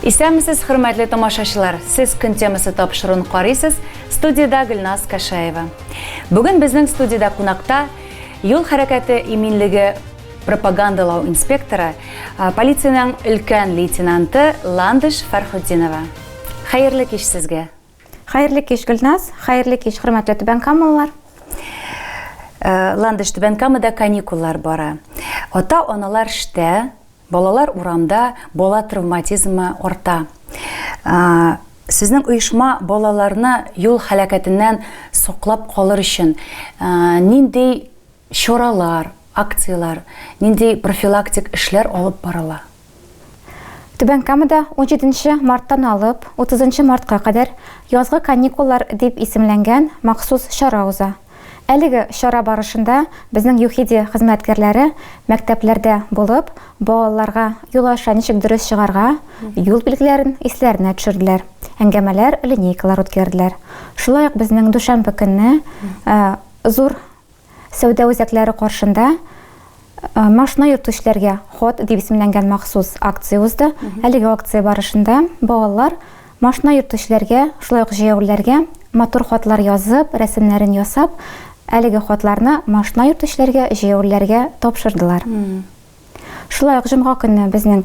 Исәнмесез, хөрмәтле тамашачылар! Сез көн темасы тапшыруын карыйсыз, студиядә Гөлназ Кәшаева. Бүген безнең студиядә кунакта юл хәрәкәте иминлеге пропагандалау инспекторы, полициянең өлкән лейтенанты Ландыш Фәрхутдинова. Хәерле кич сезгә! Хәерле кич, Гөлназ! Хәерле кич, хөрмәтле Түбән Камалылар! Ландыш, Түбән Камада каникуллар бара. Ата-аналар штә, Балалар урамда, бала травматизмы арта. Сезнең оешма балаларны юл һәлакәтеннән саклап калыр өчен нинди чаралар, акцияләр, нинди профилактик эшләр алып барыла? Түбән Камада 17 марттан алып 30 мартка кадәр Язгы каникуллар дип исемләнгән махсус чара уза. Әлеге чара барышында безнең ЮХИДИ хезмәткәрләре мәктәпләрдә булып, балаларга юлаша ничек дөрес чыгарга, юл билгеләрен исләренә төшерделәр, әңгәмәләр, линейкалар үткәрделәр. Шулай ук безнең дүшәмбе көнне зур сәүдә үзәкләре каршында Машина йөртүчеләргә ход дип исемләнгән махсус акция узды. Әлеге акция барышында балалар машина йөртүчеләргә, шулай ук җәяүлеләргә матур хатлар язып, рәсемнәрен ясап, әлеге хатларны машина йөртүчеләргә, җәяүлеләргә тапшырдылар. Шулай ук җомга көнне безнең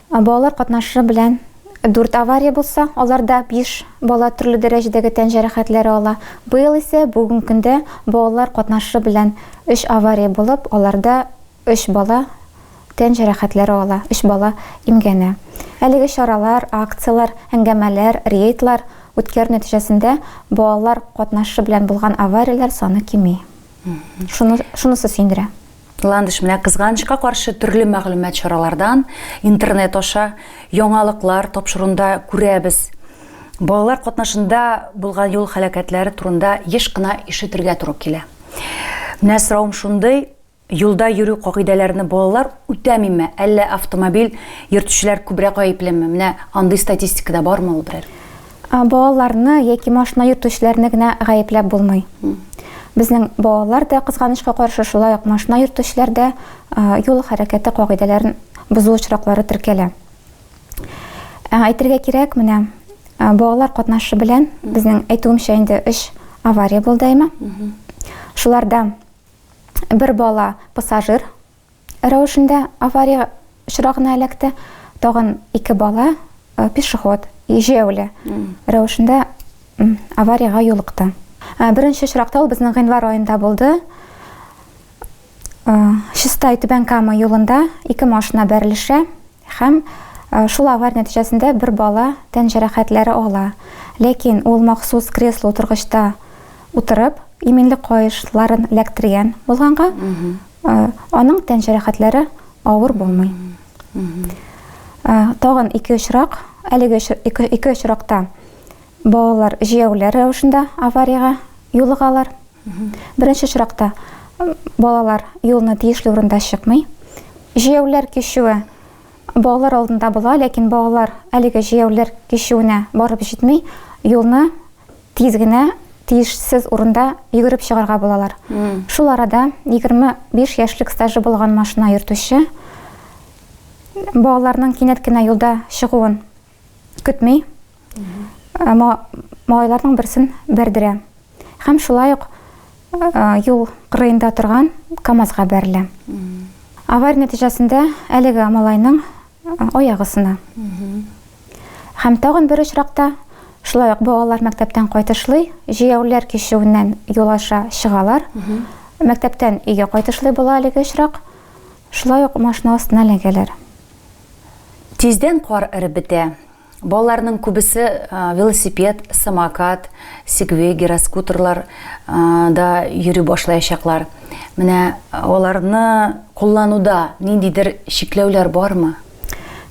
Ә балалар катнашы белән дүрт авария булса, аларда биш бала төрле дәрәҗәдәге тән җәрәхәтләре ала. Быел исә бүген көндә балалар катнашы белән өч авария булып, аларда өч бала тән җәрәхәтләре ала, өч бала имгәнә. Әлеге чаралар, акцияләр, әңгәмәләр, рейдлар үткәрү нәтиҗәсендә балалар катнашы белән булган аварияләр саны кими. Шуны, шунысы сөендерә. Ландыш менә кызганычка каршы төрле мәгълүмат чаралардан, интернет аша, яңалыклар тапшырында күрәбез. Балалар катнашында булган юл хәләкәтләре турында еш кына ишетергә туры килә. Менә сорауым шундый, юлда йөрү кагыйдәләрне балалар үтәмиме, әллә автомобиль йөртүчеләр күбрәк гаеплеме? Менә андый статистикада бармы ул берәр? Балаларны яки машина йөртүчеләрне генә гаепләп булмый. Безнең балалар да, кызганычка каршы, шулай ук машина йөртүчеләр дә юл хәрәкәте кагыйдәләрен бозу очраклары теркәлә. Әйтергә кирәк, менә балалар катнашы белән безнең әйтүемчә инде өч авария булды әйме. Шуларда бер бала пассажир, рәвешендә авария очрагына эләкте. Тагын ике бала, э, пешеход, җәяүле рәвешендә авариягә юлыкты. Э, беренче очракта ул безнең гыйнвар аенда булды. Э, Чистай Түбән Кама юлында ике машина бәрелешә һәм Э, шул авария нәтиҗәсендә бер бала тән җәрәхәтләре ала. Ләкин ул махсус кресло утыргычта утырып, иминлек каешларын эләктергән булганга, Аның тән җәрәхәтләре авыр булмый. Тагын ике очрак, әлеге ике очракта балалар җияүләр рәвешендә авариягә юлыгалар. Беренче очракта балалар юлны тиешле урында чыкмый. Җияүләр кичүе балалар алдында була, ләкин балалар әлеге җияүләр кичүенә барып җитми, юлны тиз генә тиешсез урында йөгереп чыгарга булалар. Шул арада 25 яшьлек стажы булган машина йөртүче балаларның кинәт кенә юлда чыгуын көтми, малайларның берсен бәрдерә һәм шулай ук юл кырыенда торган КАМАЗга бәрелә. Авария нәтиҗәсендә әлеге малайның Аяк ысына. Һәм тагын бер очракта, шулай ук балалар мәктәптән кайтышлый, җәяүләр кичүеннән юл аша чыгалар. Мәктәптән өйгә кайтышлый була әлеге очрак. Шулай ук машина астына эләгәләр. Тиздән кар эреп бетә. Балаларның күбесе велосипед, самокат, сегвей, гироскутерлар да йөри башлаячаклар. Менә аларны куллануда ниндидер чикләүләр бармы?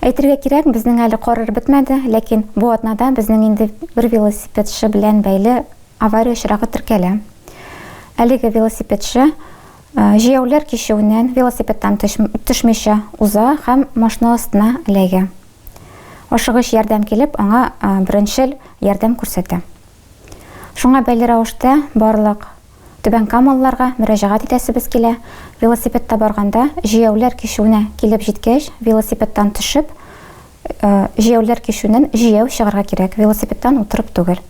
Әйтергә кирәк, безнең әле карар бетмәде, ләкин бу атнада безнең инде бер велосипедчы белән бәйле авария очрагы теркәлә. Әлеге велосипедчы җәяүләр кичүеннән велосипедтан төшмичә уза һәм машина астына эләгә. Ашыгыч ярдәм килеп, аңа беренчел ярдәм күрсәтә. Шуңа бәйле рәвештә барлык түбәнкамалыларга мөрәҗәгать итәсебез килә, велосипедта барганда, җәяүләр кичүенә килеп җиткәч, велосипедтан төшеп, җәяүләр кичүеннән җәяү чыгарга кирәк, велосипедтан утырып түгел.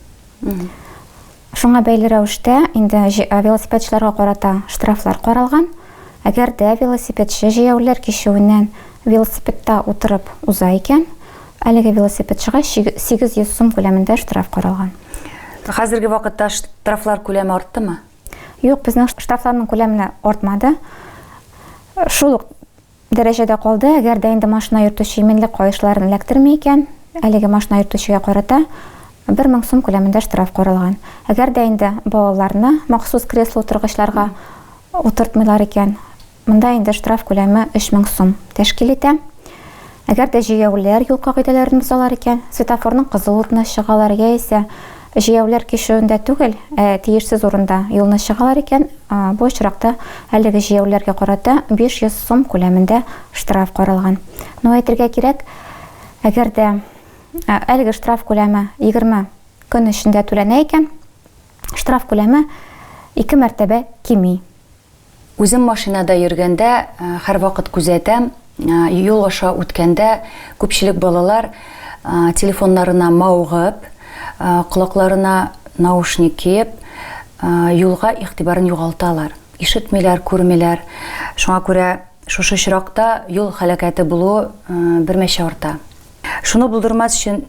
Шуңа бәйле рәвештә инде велосипедчыларга карата штрафлар каралган. Әгәр дә велосипедчы җәяүлеләр кичүеннән велосипедта утырып уза икән, әлеге велосипедчыга 800 сум күләмендә штраф каралган. Хәзерге вакытта штрафлар күләме арттымы? Юк, безнең штрафларның күләменә артмады. Шул ук Дәрәҗәдә калды, әгәр дә инде машина йөртүче иминлек каешларын эләктерми икән, әлеге машина йөртүчегә карата 1000 сум күләмендә штраф каралган. Әгәр дә инде балаларны махсус кресло-утыргычларга утыртмыйлар икән, монда инде штраф күләме 3000 сум тәшкил итә. Әгәр дә җәяүлеләр юл кагыйдәләрен бозалар икән, светофорның кызыл утына чыгалар яисә Җәяүләр кичүендә түгел, ә тиешсез урында юлны чыгалар икән, бу очракта әлеге җәяүләргә карата 500 сум күләмендә штраф каралган. Ну, әйтергә кирәк, әгәр дә әлеге штраф күләме 20 көн эчендә түләнә икән, штраф күләме ике мәртәбә кими. Үзем машинада йөргәндә һәрвакыт күзәтәм, юл аша үткәндә күпчелек балалар телефоннарына мавыгып, колакларына наушник киеп, юлга игътибарын югалталар, ишетмиләр, күрмиләр. Шуңа күрә шушы очракта юл һәлакәте булуы бермәчә арта. Шуны булдырмас өчен,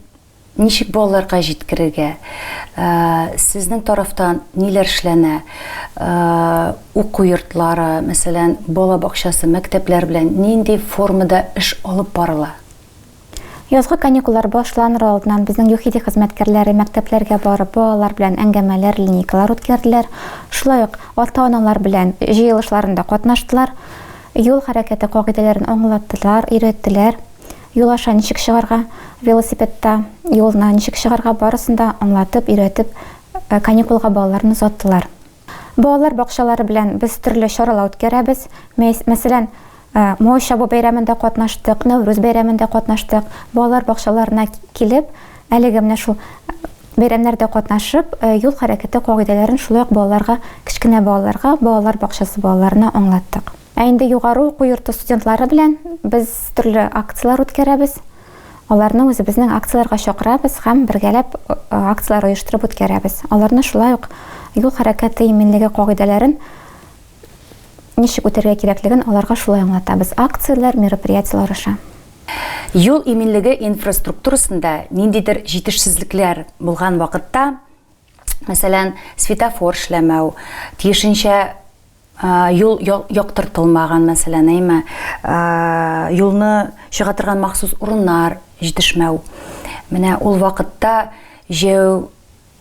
Ничек балаларга җиткерергә? Сезнең тарафтан ниләр эшләнә? Уку йортлары, мәсәлән, бала бакчасы, мәктәпләр белән нинди формада эш алып барыла? Язгы каникуллар башланыр алдыннан безнең ЮХИДИ хезмәткәрләре мәктәпләргә барып, балалар белән әңгәмәләр, линейкалар үткәрделәр. Шулай ук ата-аналар белән җыелышларында катнаштылар, юл хәрәкәте кагыйдәләрен аңлаттылар, өйрәттеләр. Юл аша ничек чыгарга, велосипедта юлына ничек чыгарга, барысын да аңлатып, өйрәтеп, каникулга балаларны озаттылар. Балалар бакчалары белән без төрле чаралар үткәрәбез. Мәсәлән, Май чабу бәйрәмендә катнаштык, Нәүрүз бәйрәмендә катнаштык. Балалар бакчаларына килеп, әлеге менә шул бәйрәмнәрдә катнашып, юл хәрәкәте кагыйдәләрен шулай ук балаларга, кечкенә балаларга, балалар бакчасы балаларына аңлаттык. Ә инде югары уку йорты студентлары белән без төрле акцияләр үткәрәбез. Аларны үзебезнең акцияләргә чакырабыз һәм бергәләп акцияләр оештырып үткәрәбез. Аларны шулай ук юл хәрәкәте иминлеге кагыйдәләрен ничек үтәргә кирәклеген аларга шулай аңлатабыз. Акцияләр, мероприятиеләр аша. Юл иминлеге инфраструктурасында ниндидер җитешсезлекләр булган вакытта, мәсәлән, светофор эшләмәү, тиешенчә Юл яктыртылмаган, мәсәлән, әйме, юлны чыга торган махсус урыннар җитешмәү. Менә ул вакытта җәяү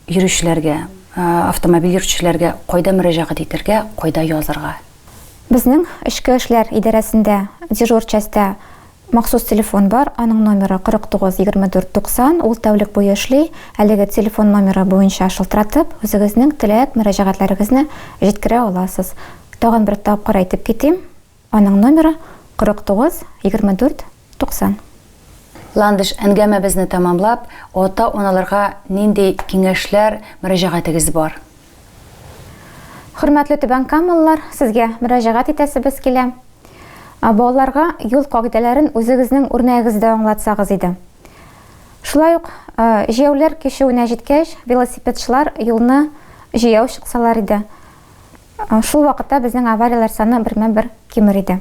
йөрүчеләргә, автомобиль йөртүчеләргә кайда мөрәҗәгать итәргә, кайда язырга? Безнең Эчке эшләр идарәсендә дежур частьтә Махсус телефон бар, аның номеры 49 24 90, ул тәүлек буе эшли, әлеге телефон номеры буенча шылтыратып, үзегезнең теләк, мөрәҗәгатьләрегезне җиткерә аласыз. Тагын бер тапкыр әйтеп китим, аның номеры 49 24 90. Ландыш, әнгәмәбезне тәмамлап, ата-аналарга нинди киңәшләр, мөрәҗәгатегез бар? Хөрмәтле түбәнкамалылар, сезгә мөрәҗәгать итәсебез килә. Балаларга юл кагыйдәләрен үзегезнең үрнәгегездә аңлатсагыз иде. Шулай ук җәяүләр кичүенә җиткәч, велосипедчылар юлны җәяү чыксалар иде. Шул вакытта безнең аварияләр саны бермә-бер кимер иде.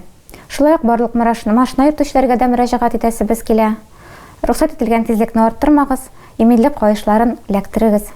Шулай ук барлык машина йөртүчеләргә дә мөрәҗәгать итәсебез килә. Рөхсәт ителгән тизлекне арттырмагыз, иминлек каешларын эләктерегез.